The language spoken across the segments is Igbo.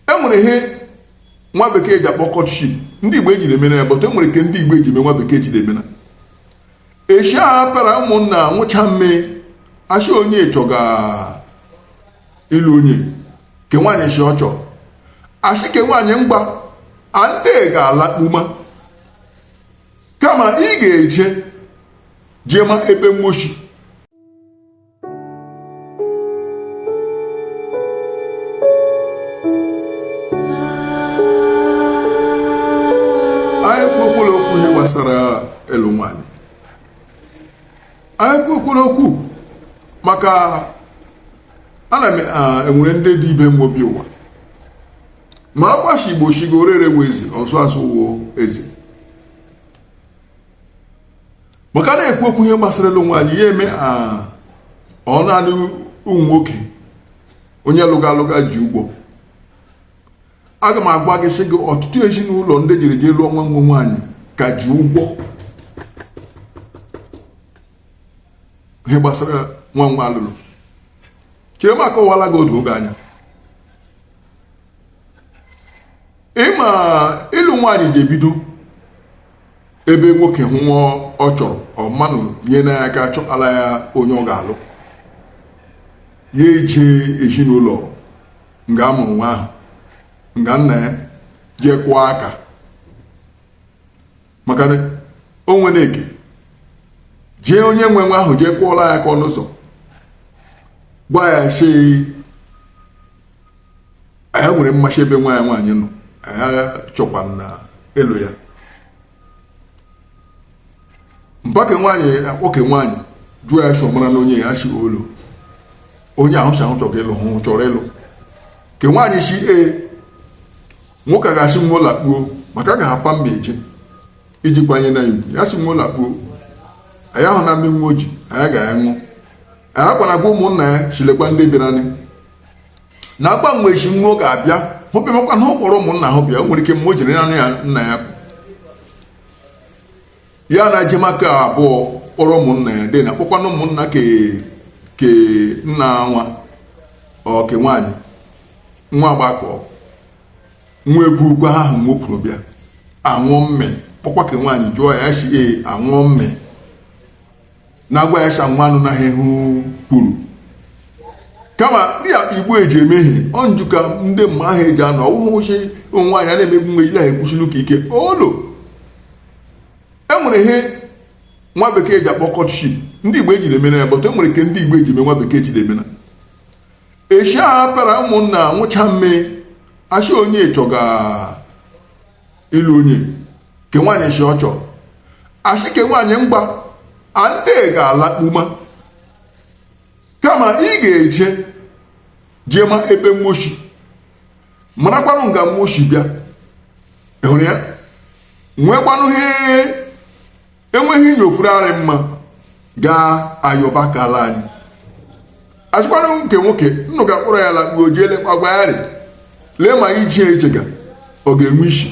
e nwere ihe nwa bekee ji akpọ courtship ndị igbo ejiri emena ya but e nwere ke ndị igbo eji eme nwa bekee ejiri emena eshi a para ụmụnna nwụcha mme ashị onye chọga ịlụ onye ke nwaanyị shi ọ chọrọ ashị ke nwaanyị mgba ande ga-alakpuma kama ị ga-eje jee ma ebe mmo shi gbasara ịlụ nwaanyị anyị kwukwuola okwu maka ana m enwere ndị dị ibe m obi ụwa ma agbashi igbo shi gị ore ere wụ eze ọzụ azụ wụ eze maka a na-ekwu okwu ihe gbasara ịlụ nwaanyị ya eme ọ naanị ụmụ nwoke onye lụga alụga ji ụgwọ aga m agwa gị sị gị ọtụtụ ezinụlọ ndị jiri jee lụọ nwa nwa nwaanyị ka ji ụgwọ ihe gbasara nwa nwa alụlụ chere m akọwala gị oge anya ịma ịlụ nwaanyị ji ebido ebe nwoke hụ nwa ọ chọrọ ọ manụ nyena ya aka chọtara ya onye ọ ga-alụ ya eje ezinụlọ nga amụrụ nwa ahụ nga nna ya jee kwụọ aka maka na o nwere ike jee onye nwe nwa ahụ jee kwụọla ya aka ọnụ ụzọ gwa ya shi anyị nwere mmasị ebe nwa ya nwaanyị nọ anyị chọkwana ịlụ ya mpa ke nwaanyị kpọọ ke nwaanyị jụọ ya shi ọ mara na onye ya si olu onye ahụ si ahụ chọrọ ịlụ hụ chọrọ ịlụ ke nwaanyị shi ee nwoke a ga-asị nwa lakpuo maka a ga-apa mme eje iji kwanye na ugwu ya si nwa lakpuo anyị ahụ na mmiri nwa oji anyị ga-aṅụ anyị akwana gwa ụmụnna ya shi lekwa ndị bịara anyị na agbanwe echi nwa ga-abịa ọ bịamakwana ọ kpọrọ ụmụnna ahụ bịa o nwere ike mgbe o jiri naanị ya nna ya ya na jemaka abụọ kpọrọ ụmụnna ya dị na kpọkwana ụmụnna ke ke nna nwa ọke nwaanyị nwa agbakọ nwa ebukwa ihe ahụ nwa kwuru bịa anwụọ mme kpọkwa ke nwaanyị jụọ ya ya shi ee anwụọ mme na agwa ya shanwanụ na ihe kwuru kama ndị akpa igbo eji eme ihe ọ nju ka ndị mma ahụ eji anọ ọwụhụ sị ụmụ nwaanyị a na-emegbu nwa ejila ha ekwuchili ụka ike olo e nwere ihe nwa bekee ji akpọ courtship ndị igbo ejiri emena ya but e nwere ke ndị igbo eji eme nwa bekee jiri emena esi apara ụmụnna nwụcha mme asị onye chọga ịlụ onye ke nwaanyị si ọ chọrọ asị ke nwaanyị mgba ande ga-alakpuma kama ị ga-eje jee ma ebe mmo shi marakwanụ nga mmo shi bịa ịhụrụ ya nwekwanụ ihe enweghị ihe ọ fụrụ arị mma gaa ayọba ka ala anyị asịkwara ke nwoke nnụ ga-akpọrọ ya lakpuo jee lekwa agwa ya rị lee ma iji eche ga ọ ga-enwe isi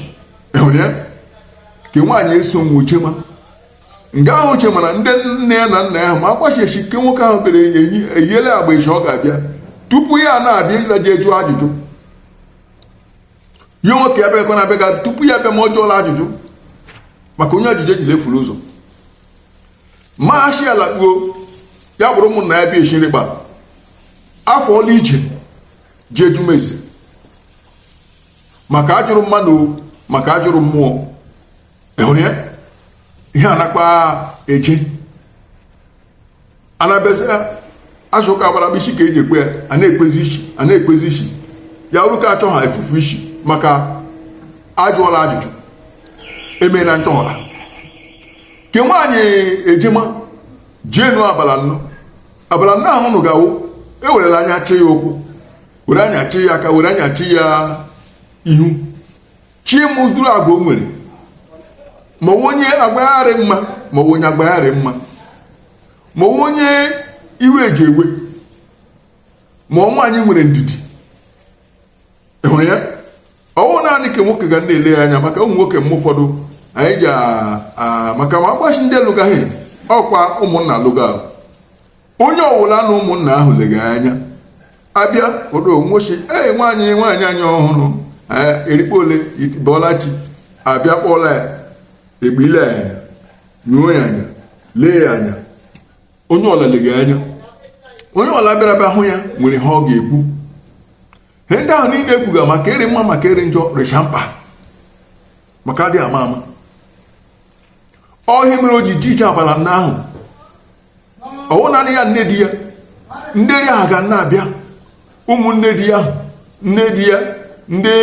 ịhụrụ ya ke nwaanyị eso nwa ochema nga ahụ uche mana ndị nne ya na nna ya makwa sị ke nwoke ahụ bere eyiele agba echi ọ ga-abịa tupu ya na-abịa ịla jee jụọ ajụjụ ya nwoke ya bịakwa na-abịa ga tupu ya bịa ma ọ jụọla ajụjụ maka onye ajụjụ ejila efuru ụzọ ma asị alakpuo ya kpọrọ ụmụnna ya bịa echi nri gba afọ ọla ije jee jụma ese maka ajụrụ mmadụ maka ajụrụ mmụọ ịhụrụ ya ihe anakpa eje anabịazịa azụ ụka gbara isi ka eji ekpe ya a na-ekpezi isi ya bụrụ ka achọ ha efufu isi maka ajụọla ajụjụ emee na nchọghara ke nwaanyị ejema jeenụ abala nnọ abala nnọ ahụ nụ gawo ewerela anya chi ya ụkwụ were anya chi ya aka were anya chi ya ihu chi m ụdịrị agwa o nwere ma onye agwa ya rị mma ma onye agwa ya rị mma ma onye iwe eji ewe ma ọ nwaanyị nwere ndidi ịhụrụ ya ọwụ naanị ke nwoke ga na-ele ya anya maka ụmụ nwoke m ụfọdụ anyị ji maka ma agbachi ndị alụgaghị ọkwa ụmụnna alụga onye ọwụla na ụmụnna ahụ lega anya abịa odo nwochi ee nwaanyị nwaanyị anyị ọhụrụ erikpo ole bọlachi abịa kpọla ya egbile ya anya nyuo ya anya lee ya anya onye ọla lega anya onye ọla bịara bịa hụ ya nwere ihe ọ ga-ekwu he ndị ahụ niile ekwuga maka arị mma maka arị njọ rịcha mkpa maka adịghị ama ama ọ ihe mere o ji ji ije abala nnọ ahụ ọwụ naanị ya nne di ya ndị ri ahụ ga na-abịa ụmụnne di ya nne di ya ndị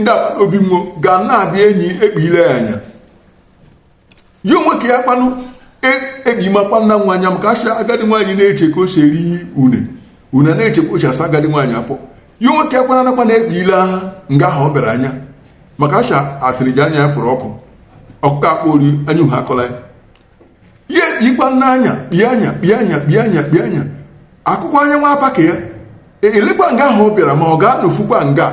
ndị agbata obi nwo ga na-abịa enyi ekpile ya anya ya onwe ka ya kpanụ ebimakwa nna nwa anya maka a sị agadi nwaanyị na-eche ka o si eri une une na-eche ka o si asa agadi nwaanyị afọ ya onwe ka ya kwana nakwa na ekpile ha nga ahụ ọ bịara anya maka asha asịrị ji anya ya fụrụ ọkụ ọkụkọ akpọ ori anya uhe akọla ya ihe ikwa n'anya kpie anya kpie anya kpie anya kpie anya akụkọ anya nwa apa ka ya e, elekwa nga ahụ ọ bịara ma ọ ga-anọfukwa nga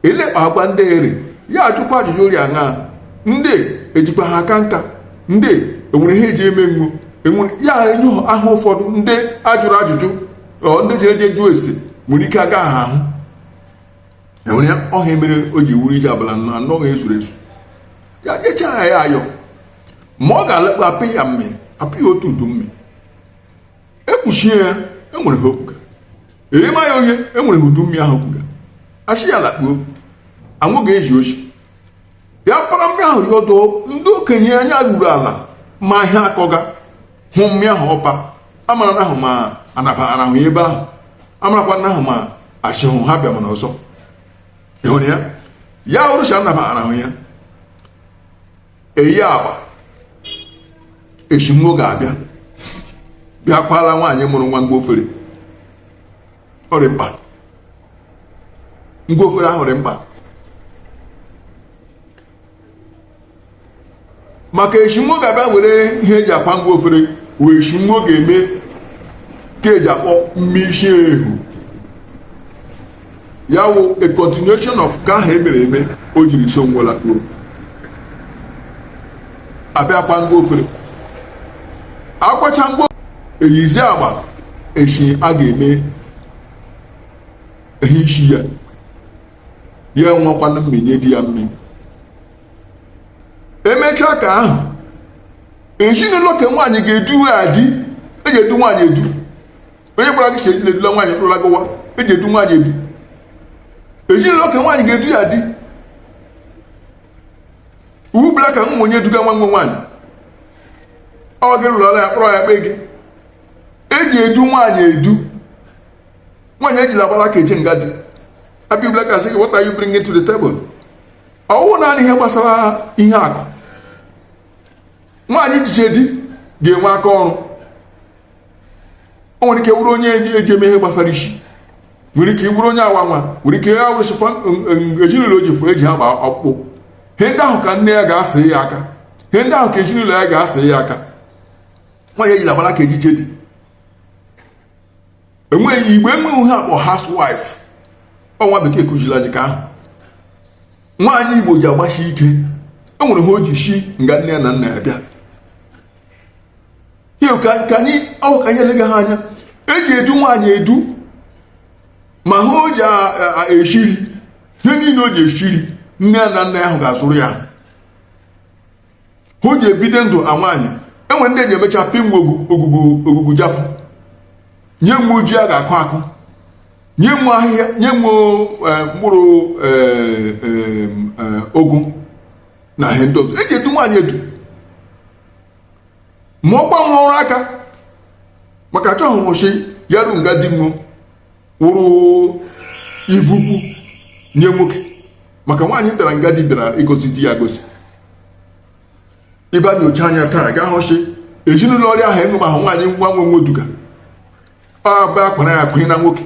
elekpa agwa ndị eri ya ajụkwa ajụjụ ọ rị aṅa ndị ejikwa ha aka nka ndị enwere ihe eji eme mgbu enwere ya enye aha ụfọdụ ndị ajụrụ ajụjụ ndị jere je jụọ ese nwere ike agaha ahụ enwere ya ọ ihe mere o ji wụrụ ije abalị anọ ezuru ezu ya jechaa ya ayọ ma ọ ga-alakpu apị ya mme apị ya otu udu mme ekpuchie ya enwere ha okpuga eghema ya onye enwere ha udu mme ahụ okpuga asị ya lakpuo anwụ ga-eji oji ya para mme ahụ ya ọdụ ndị okenye anya ruru ala ma ihe akọga hụ mme ahụ ọ pa amara na ahụ ma anabarahụ ya ebe ahụ amarakwa na ahụ ma asịhụ ha bịa mana ọzọ ịhụrụ ya ya orụcha anabarahụ ya eyi agba eshi nwo ga-abịa bịa kwaala nwaanyị mụrụ nwa ngwa ofere ọ dị mkpa ngwa ofere ahụ dị mkpa maka eshi nwo ga-abịa were ihe eji akwa ngwa ofere wee eshi nwo ga-eme nke eji akpọ mme isi ehu ya wụ a continuation of nke ahụ emere eme o jiri so nwo la kwuru abịa kwa ngwa ofere akwacha ngwa eyizi agba eshi a ga-eme ihe isi ya ya enwekwana mme nye di ya mme emechaa nke ahụ ezinụlọ nke nwaanyị ga-edu ya di eji edu nwaanyị edu onye gwara gị cheji na-edula nwaanyị mkpụrụla gụwa eji edu nwaanyị edu ezinụlọ nke nwaanyị ga-edu ya di iwu bụla ka nwa onye eduga nwa nwe nwaanyị ọ gị lụrụla ya kpọrọ ya kpee gị eji edu nwaanyị edu nwaanyị ejila agbara aka eje nga di abịa ubula ka sị gị what are you bringing to the table ọwụ naanị ihe gbasara ihe akụ nwaanyị ji je di ga-enwe aka ọrụ o nwere ike wụrụ onye eji eme ihe gbasara isi nwere ike wụrụ onye awa nwa nwere ike ya wụrụ sịfa ezinụlọ o ji fụ eji agba ọkpụkpụ ihe ndị ahụ ka nne ya ga-asị ya aka ihe ndị ahụ ka ezinụlọ ya ga-asị ya aka nwaanyị ejila agbara aka ejiche di enweghị Igbo enweghị ihe akpọ housewife ọ nwa bekee kụziri anyị ke ahụ nwaanyị Igbo ji agbashi ike enwere ihe o ji shi nga nne ya na nna ya bịa ihe ka anyị ọ wụ ka anyị elega ha anya eji edu nwaanyị edu ma ihe o ji eshiri ihe niile o ji eshiri nne ya na nna ya ahụ ga-azụrụ ya o ji ebido ndụ a nwaanyị enwere ndị eji emecha pịa nwe ogugu ogugu japụ nye nwe ji a ga-akụ akụ nye nwe ahịhịa nye nwe e, mkpụrụ e, e, ụgụ na ihe ndị ọzọ eji edu nwaanyị edu ma ọkwa nwa ọrụ aka maka achọghị shi ya ru nga di wụrụ ivu ukwu nye nwoke maka nwaanyị bịara nga di bịara ịgọzi di ya gọzie ị ba enyocha anya taa ga-ahụ shi ezinụlọ ọrịa ahụ ịṅụ ma ahụ nwaanyị nwa nwe nwoduga ọ bụ akwara ya akụnye na nwoke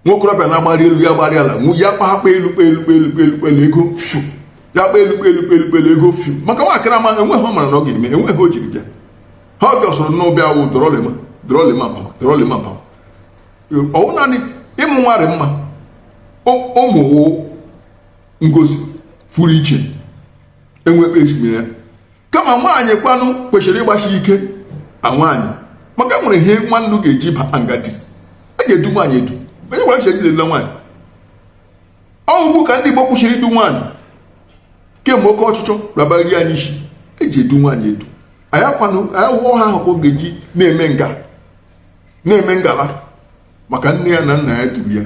nwokorobịa na-agbari elu ya gbari ala ya kpakpa elu kpa elu kpa elu kpa elu kpa elu ego fiu ya kpa elu kpa elu kpa elu kpa elu ego fiu maka nwaakịrị ama enweghị ihe ọ mara na ọ ga-eme enweghị ihe o jiri bịa ihe ọ bịa sọrọ nnọọ bịa wụ dọrọlịma dọrọlịma pama dọrọlịma pama ọ wụ naanị ịmụ nwa rị mma ụmụ wụ ngozi furu iche enwe ekpe ya kama nwaanyị kwanụ kwesịrị ịgbashi ike a nwaanyị maka enwere ihe nwa unu ga-eji baa nga di eji edu nwaanyị edu onye gwara chere ilele nwaanyị ọ wụ ugbu a ka ndị Igbo kwụshịrị idu nwaanyị kemgbe oke ọchịchọ labari anyị isi eji edu nwaanyị edu ya wụ ihe ahụ ka ọ ga-eji na-eme nga na-eme ngala maka nne ya na nna ya duru ya